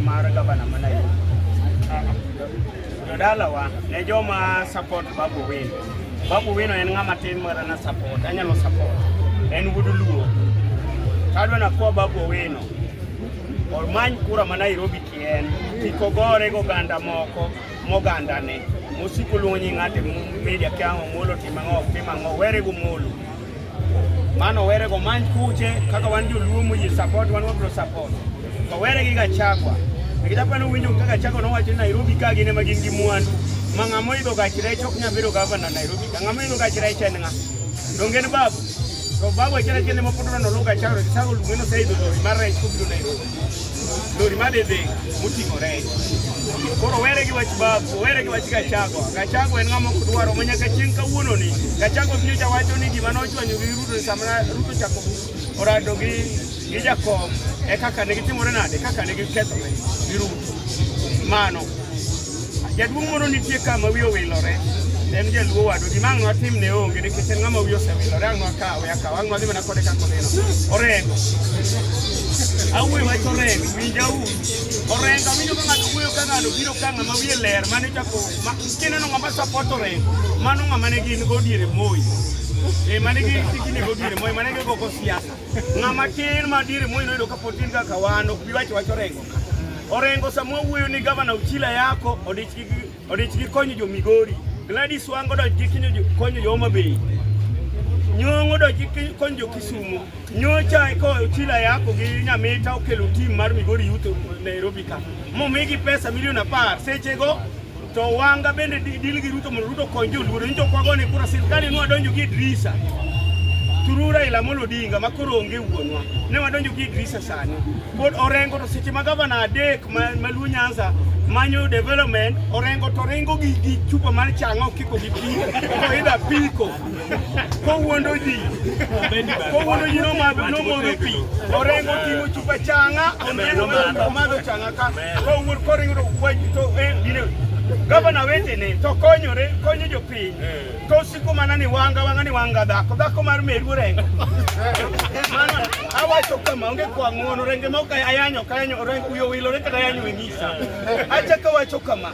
Mara gavana mana yo. Jodalawa ne joma support Babu Wino. Babu Wino en ng'ama tin mara na support, anyalo support. En wuod Luo. Kadwa na kwa Babu Wino. Omany kura ma Nairobi kien, kik ogore goganda moko moganda ne. Mosiko luongo nying' ng'ate media kia Omolo timo ang'o, ok tim ang'o, were gomolo. Mano were go man kuche kaka wan joluo mu yi support wan wabro support. To were gi Gachagua. Nikita pano winjo kaka Gachagua nowacho ni Nairobi ka gin ema gin gi mwandu. Ma ng'ama idho gach rech ok nyal bedo gavana Nairobi. Ng'ama idho gach rech en ng'a? Donge ni babu. To babu achiel achiel ema pod noluwo Gachagua, Gachagua luonge ni oseidho lori mar rech kobiro Nairobi. lori mane dhi moting'o rech. Koro were gi wach babu, were gi wach Gachagua. Gachagua en ng'ama ok dwaro ma nyaka chieng' kawuono ni. Gachagua biro cha wacho ni gima nochwanyo gi Ruto ni sama Ruto chako orado gi gi Jakom e kaka ne gitimore nade, kaka ne gikethore gi Ruto. Mano. Jaduong' moro nitie ka ma wiye owilore en jaluo wadwa gima ang' nwatim ne onge nikech en ng'ama wiye osewilore ang' nwakawe akaw ang' nwadhi mana kode kaka oneno orengo awuoyo wach orengo winja u orengo awinjo ka ng'ato wuoyo ka ng'ano biro ka ng'ama wiye ler mane chako kineno ng'ama sapot orengo mano ng'ama ne gin go diere moyi e mane gi tikini go diere moyi mane gi gogo siasa ng'ama tin ma diere moyi noyudo ka pod tin kaka wan ok bi wacho wach orengo Orengo sama wuoyo ni gavana Uchila yako odich gi odich gi konyo jo Migori. Gladys Wango odich gi kinyo jo konyo jo Homa Bay. Nyong'o odich gi konyo jo Kisumu. Nyocha eko Uchila yako gi Nyamita okelo tim mar Migori Youth Nairobi ka. Momigi pesa milion apar sechego To wanga bende dil gi Ruto mondo Ruto kony joluo ni to kwago ni kura sirkali nwa donjo gi Idrisa. Turu Raila Amolo Odinga ma koro onge wuonwa. Ne wadonjo gi Idrisa sani. Pod Orengo to seche ma gavana adek ma, ma Luo Nyanza manyo development Orengo to ringo gi, gi chupa mar chang'o kiko gi pi to idha piko kowuondo ji kowuondo ji nomodho pi Orengo ting'o chupa chang'a oneno madho chang'a ka Kowur koringo wach to eh, gine gavana wetene to konyore konyo jopiny eh. to siko mana ni wanga wanga ni wanga dhako dhako mar meru orengo mano awacho kama onge kwa ng'uono renge ma ok ayanyo kayanyo orengo uyo wilore kata ayanyo e ng'isa eh. achako wacho kama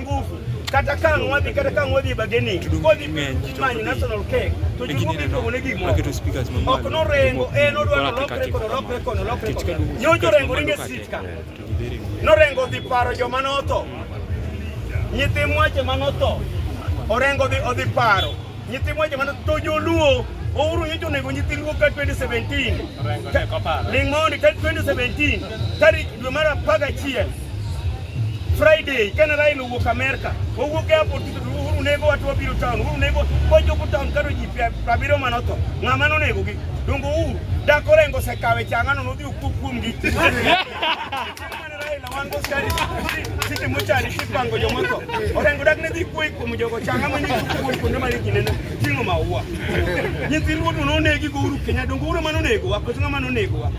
nguvu kata ka ang'o wadhi kata ka ang'o wadhi bageni kodhi manyo national cake to jowuogi iluongo ne gimo ok norengo en odwa nolokre kono lokre kono lokre kono nyojo rengo ringe sit ka norengo dhi paro joma notho nyithi mwache ma notho orengo dhi odhi paro nyithi mwache ma notho to joluo ouru nyojo onego nyithi luo ka 2017 ling' mondi ka 2017 tarik dwe mar apar gachiel Friday kane Raila owuok Amerka, owuok airport Uhuru nego watu wabiro town, Uhuru nego wachopo town karo ji abiriyo mane otho. Ng'ama nonegogi? Donge Uhuru dak orengo osekawe chang'ano nodhi okuo kuomgi. Raila wan go skari sisi mochari kipango joma otho. Orengo dak ne dhi kuoyi kuom jogo changa ma nyingi kuom kuonde ma nyingi nene ting'o maua. Nyithi ruodo nonegi go Uhuru Kenyatta, donge Uhuru ema nonegowa, koso ng'ama nonegowa?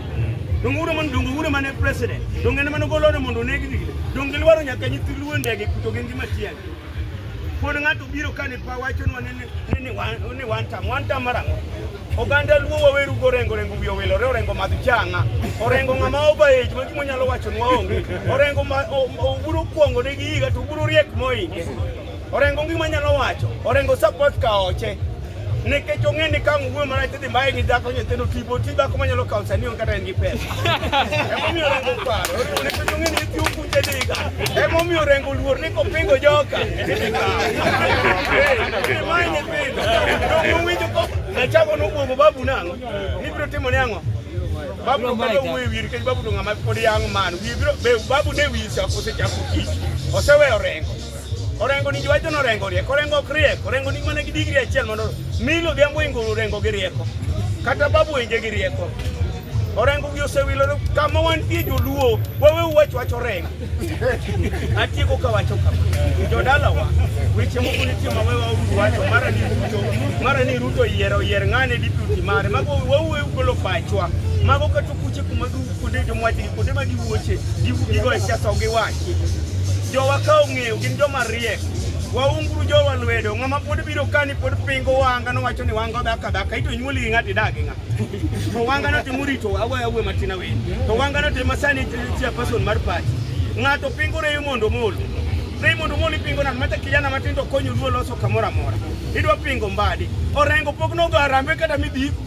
Donge uro man donge uro mane president. Donge ne mano golo ne mondo negi dile. Donge lwaro nyaka nyithi luo ndege kuto gengi matiang. Pod ng'ato biro kane pa wacho nwa ne ne wan ne wan tam wan tam marango. Oganda luo waweru gorengo rengo wiyo welo re orengo madh changa. Orengo ng'ama oba age ma gimo nyalo wacho nwa onge. Orengo ma oburo kuongo ne gi higa to oburo riek moinge. Orengo ngima nyalo wacho, Orengo support kaoche. Nikech ong'e ni ka ng'uwe mara tidhi mbaye gi dhako nyithindo tipo ti dhako manyalo kawo sani onge kata en gi pesa. Emomiyo Orengo paro, Orengo nikech ong'e ni iti ukuche diga. Emomiyo Orengo luor ni kopingo joka, tidhi kawo. Ee, mae nyithindo, to owinjo ko nachako nobwogo babu nang'o, nibiro timo ni ang'o? Babu to kata wuoyo wiye nikech babu to ng'ama pod young man, wiye biro, be babu ne wiye osechako tich, oseweyo Orengo. Orengo ni jwacho no rengo rieko, orengo ok rieko, orengo ni mana gi digri achiel mondo milo dhiambo inguru rengo gi rieko. Kata babu wenje gi rieko. Orengo gi osewilo kama wantie joluo, wawe uwach wach orengo. Atieko ka wacho kama. Jodala wa, weche moko nitie ma wewa uwacho, mara ni Ruto, mara ni Ruto yiero, yier ng'ane deputy mare, mago wawe ugolo pachwa. Mago katukuche kuma du Kuonde jomwa dhi, kuonde ma giwuoche, gigoye siasa onge wachi. Jowa ka ong'eyo gin joma riek, waunguru jowa lwedo. Ng'ama pod biro kani pod pingo wanga nowacho ni wanga dhaka dhaka, ito nyuoli gi ng'ati dagi ng'a. To wanga no timo rito awe awe matin awe. To wanga no timo sani chia person mar party. Ng'ato pingo reyo mondo molo. Reyo mondo molo pingo na mata kijana matindo konyo luo loso kamora mora. Idwa pingo mbadi. Orengo pok no garambe kata midhi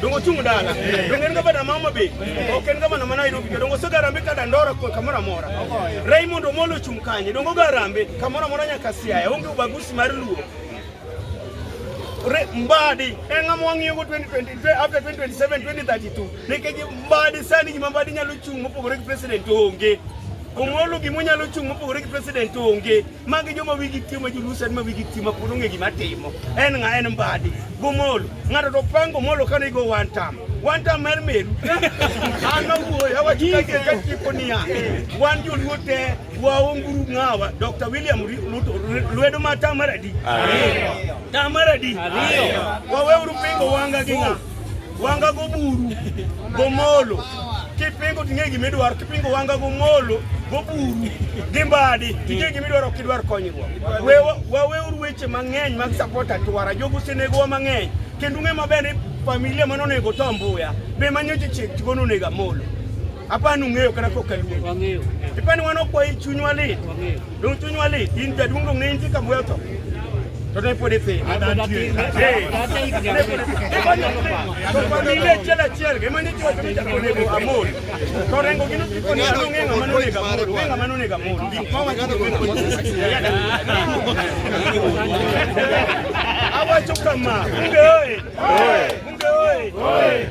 dongo chung dala dongo en gavana mama be ok en gavana ma Nairobi ke dongo sogarambe ka dandora kwa kamora mora Raymond Omolo chung kanye dongo garambe kamora mora nyaka siaya onge ubagusi mar luo mbadi eng'ama wang'iyogo 2020 after 2027 2032 nikech mbadi sani gima mbadi nyalo chung' mopogore gi president onge omolo gima onyalo chung' mopogore gi president onge Magi joma wigi tiyo ma jolusen ma wigi tiyo ma pod ong'e gima timo. En ng'a en mbadi. Gomolo. Ng'ato to pango molo ka nigo one time. One time mer meru. An awuoyo awacho ka ke ka tipo niya. Wan joluo te waonguru ng'awa. Dr. William Ruto lwedo ma tamaradi. Ariyo. Tamaradi. Ariyo. Waweuru pingo wanga gi ng'a. wanga go buru go molo kipingo ting'e gima idwaro kipingo wanga go molo go buru gi mbadi ting'e gima idwaro ok idwar konyruok waweuru weche mang'eny mag support atwara jogo osenegowa mang'eny kendo ung'e maber ni familia mane onego to mbuya be manyo ji chieng' tigo nonego amolo apani ung'eyo kata kokaluo ipani wan okwayi chunywa lit Dong chuny wali in jaduong' dong ne intie ka bwel to. To ne pod ithi. Ile achiel achiel gima ni chuo chuo chako nego amol. To rengo gino tipo ni ano ng'e ng'ama nonego amol. Ng'e ng'ama nonego amol. Gik ma wacho ni weko. Awacho kama. Bunge oye. Bunge oye.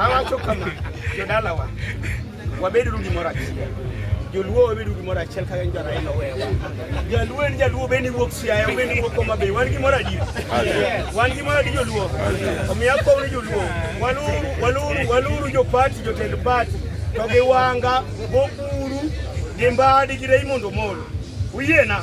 awacho kama jodalawa wabed uru gimoro achiel joluo wabedo gimoro achiel kaka en jaraila owewa jaluo en jaluo bende wuok siaya bende wuok homa bay wan gimoro adi wan gimoro adi joluo omiyo akow ni joluo waluru waluru waluru jopati jotend pati to gi wanga gokuru gi mbadi gi rei mondo molo uyiena